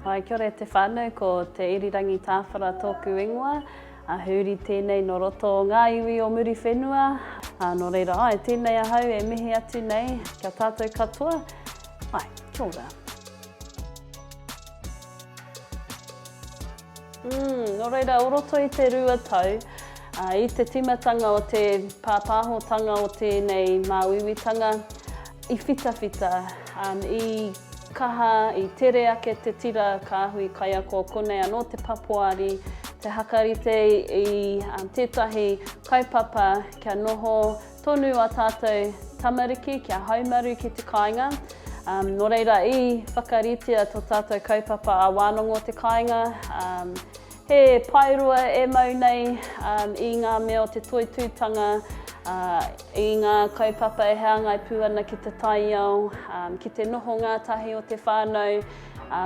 Hi, kia ora e te whānau, ko Te Irirangi Tāwhara tōku ingoa. A Hūri tēnei nō roto o ngā iwi o Muriwhenua. A, nō reira, ai, tēnei ahau e mihi atu nei ki a tātou katoa. Ai, kia ora. Mm, nō reira, o roto i te rua tau, a, i te tīmatanga o te pāpāhotanga o tēnei māuiuitanga, I whitawhita, i kaha, i tere ake te tira kāhui kaiako, konei anō te papoari, te hakarite i tētahi kaupapa kia noho tonu a tātou tamariki kia haumaru ki te kāinga. Nō reira, i whakaritea to tātou kaupapa a Wānongo te Kāinga, He paeroa e mau nei i ngā mea o te toitūtanga, i ngā kaupapa e hāngai pū ana ki te taiao, ki te noho ngātahi o te whānau,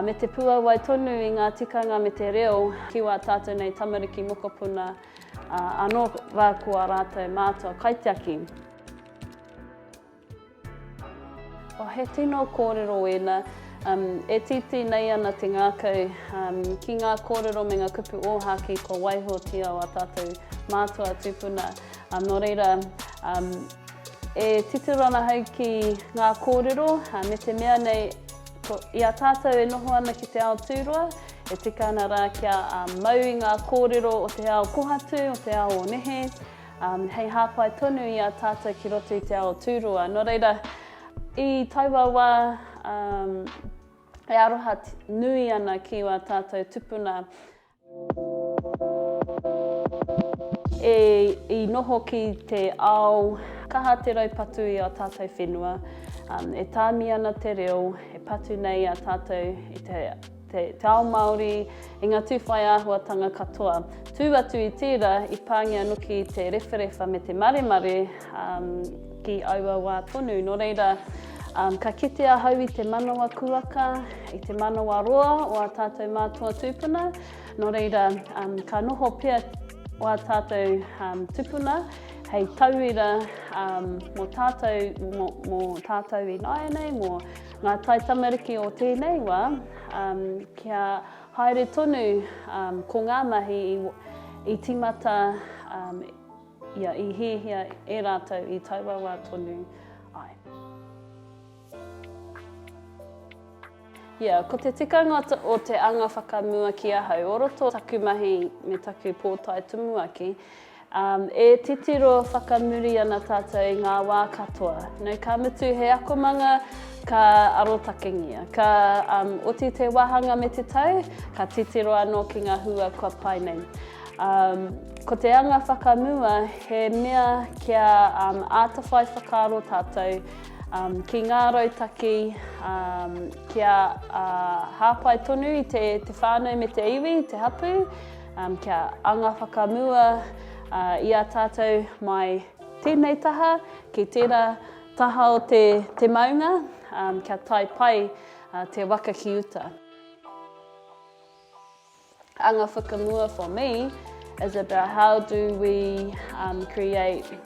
me te puawai tonu i ngā tikanga me te reo ki wā tātou nei tamariki mokopuna anō rā ko ā rātou mātua kaitiaki. Oh, he tino kōrero ēnā. Um, e titi nei ana te ngākau um, ki ngā kōrero me ngā kupu ōhāki kua waihotia o a tātou mātua tūpuna. Um, nō reira, um, e titiro ana hau ki ngā kōrero, uh, me te mea nei, ko, i a tātou e noho ana ki te ao tūroa, e tika ana rā kia uh, mau i ngā kōrero o te ao kohatu, o te ao o nehe, hei hāpai tonu i a tātou ki roto i te ao tūroa. Nō reira, i taua wā, e aroha nui ana ki wā tātou tupuna. E, i noho ki te ao, kaha te raupatu i a tātou whenua, e tāmi ana te reo, e patu nei a tātou i te te ao Māori, i ngā tū whai āhuatanga katoa. Tū atu i tērā, i pāngia anōki te rewharewha me te maremare um, ki aua wā tonu. Nō reira, um, ka kite ahau i te manawa kuaka, i te manawa roa o a tātou mātua tūpuna. Nō reira, um, ka noho pia o a tātou um, tūpuna hei tauira um, mō tātou, mō, mō tātou i nāianei, mō Ngā taitamariki o tēnei wā, kia haere tonu ko ngā mahi i tīmata, ia, i hiahia e rātou i taua wā tonu ai. Ia, ko te tikanga o te anga whakamua ki ahau, o roto taku mahi me taku pōtae tumuaki, E titiro whakamuri ana tātou i ngā wā katoa. Nō ka mutu he akomanga ka arotakengia. Ka oti te wāhanga me te tau, ka titiro anō ki ngā hua kua pai nei. Ko te anga whakamua he mea kia āta whai whakaaro tātou ki ngā rautaki kia hāpai tonu i te whānau me te iwi, te hapū, Kia anga whakamua i a tātou mai tēnei taha ki tērā taha o te maunga, kia tae pai te waka ki uta. Anga whakamua for me is about how do we create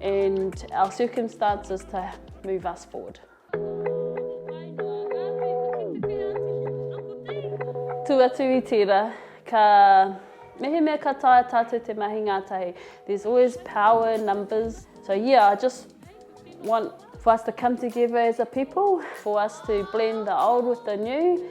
and our circumstances to move us forward. Tū atu i tira, ka mehemea ka taia tātou te mahi ngātahi. There's always power in numbers. So yeah, I just want for us to come together as a people, for us to blend the old with the new,